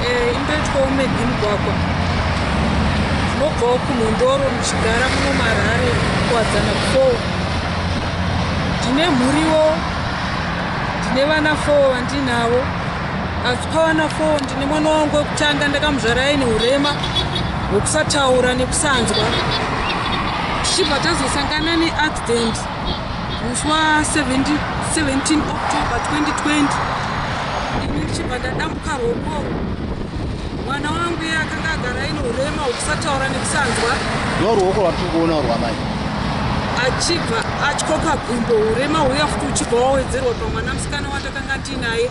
eh, indoitwawo medi mugwagwa munobvawo kunhondoro muchigara muno marare kuwadzana four ndine mhuriwo ndine vana four vandinavo asi pavana four ndine mwana wangu wekutanga ndakamuzvara aine urema hwekusataura nekusanzwa tichibva tazosangana neaccident Muswa 17 17 October 2020 ini ndichibva ndadambuka roko mwana wangu iye akanga agara aine urema hwekusataura nekusanzwa ndo ruoko rwatiri kuona rwamai achibva atyoka gumbo urema huya futi uchibva wawedzerwa pamwana musikana watakanga tiinaye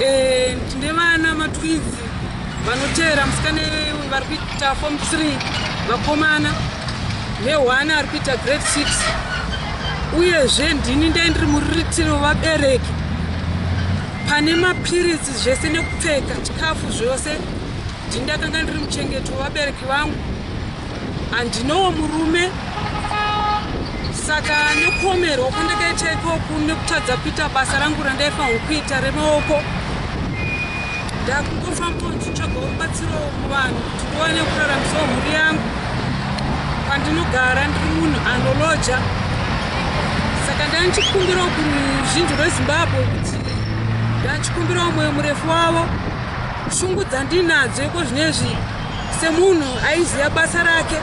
Eh, tine vana matwidzi vanoteera musikana vari kuita form three vakomana neone ari kuita grade six uyezve ndini ndai ndiri muriritiri wevabereki pane mapiritsi zvese nekupfeka chikafu zvose ndini ndakanga ndiri muchengeti wevabereki vangu handinowo murume saka nekuomerwa kwandakaita ikoku nekutadza kuita basa rangu randaifanirwa kuita remaoko ndakungofambawo ndichitsvaga rubatsiro kuvanhu kuti ndiwane kuraramisawo mhuri yangu pandinogara ndiri munhu anoloja saka ndandichikumbirawo kuruzhinji rwezimbabwe kuti ndandichikumbirawo mwoyo murefu wavo shungu dzandinadzo iko zvino izvi semunhu aiziva basa rake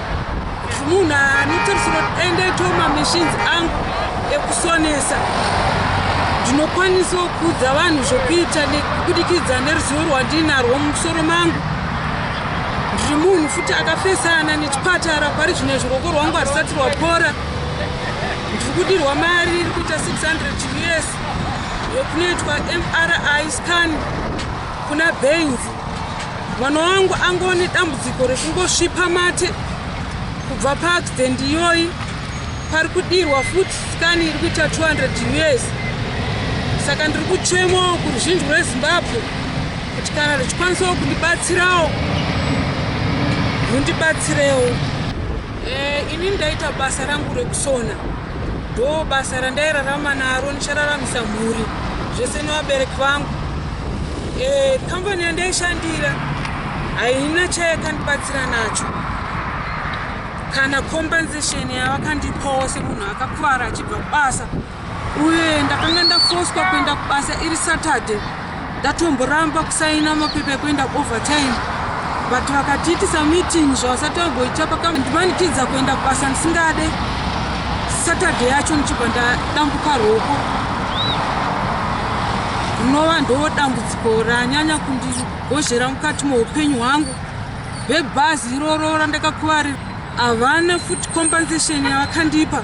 munhu anotarisira kuti aendaitawo mamishinzi angu ekusonesa ndinokwanisawo kuudza vanhu zvokuita kubudikidza neruzivo rwandiinarwo mumusoro mangu ndiri munhu futi akafesana nechipatara pari zvino zviroko rwangu harisati rwapora ndiri kudirwa mari iri kuita 600 us yekunoitwa mri scan kuna bainzi mwana wangu angone dambudziko rekungosvipa mate kubva paaccident iyoyi pari kudirwa futi skani iri kuita 200 years saka ndiri kuchemawo kuruzhinji rwezimbabwe kuti kana richikwanisawo kundibatsirawo rundibatsirewo e, eh, ini ndaita basa rangu rekusona Do basa randairarama naro ndichararamisa mhuri zvese nevabereki vangu. Eh, kambani yandaishandira haina chayakandibatsira nacho kana compensation yavakandipawo semunhu akakuvara achibva kubasa uye ndakanga ndafoswa kuenda kubasa iri saturday Ndatomboramba kusaina mapepa ekuenda overtime but vakatiitisa meeting zvavasati vagoita pakandimanikidza kuenda kubasa ndisingade saturday yacho ndichibva ndadambuka roko rinova ndo dambudziko ranyanya kundigozhera mukati moupenyu hwangu vebhazi iroro randakakuvarira havana futi compensation yavakandipa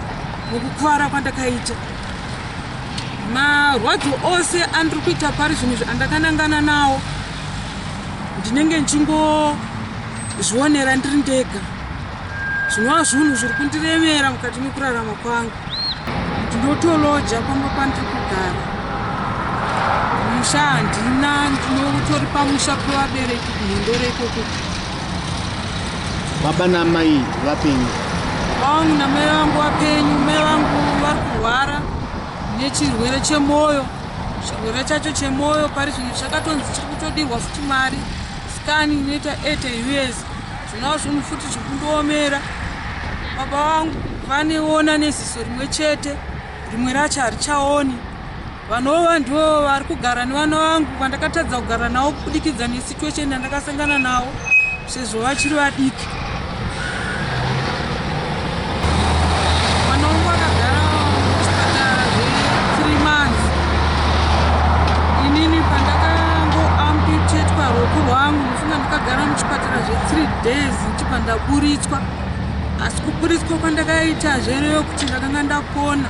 mukukuvara kwandakaita marwadzo ose andiri kuita pari zvinhu izvi andakanangana nawo ndinenge ndichingozvionera ndiri ndega zvinova zvinhu zviri kundiremera mukati mekurarama kwangu ndinotoloja pamba pandiri kugara musha handina ndinotori pamusha pevabereki kuhindore ikoko baba namai vapenyu vangu namai vangu vapenyu mai vangu vari kurwara nechirwere chemwoyo chirwere chacho chemwoyo pari zvino chakatonzi chiri kutodirwa futi mari skani inoita ete us zvinova zvinhu futi zviri kundoomera baba vangu vaneona neziso rimwe chete rimwe racho harichaoni Vanova ndivo vari kugara nevana vangu vandakatadza kugara navo kubudikidza nesituation yandakasangana navo sezvo vachiri vadiki. days ndichibva ndaburitswa asi kuburitswa kwandakaita zvereyo kuti ndakanga ndapona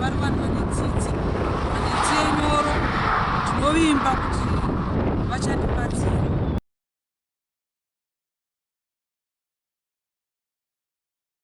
vari vanhu vane tsitsi vane tsiye nyoro tinovimba kuti vachatibatsira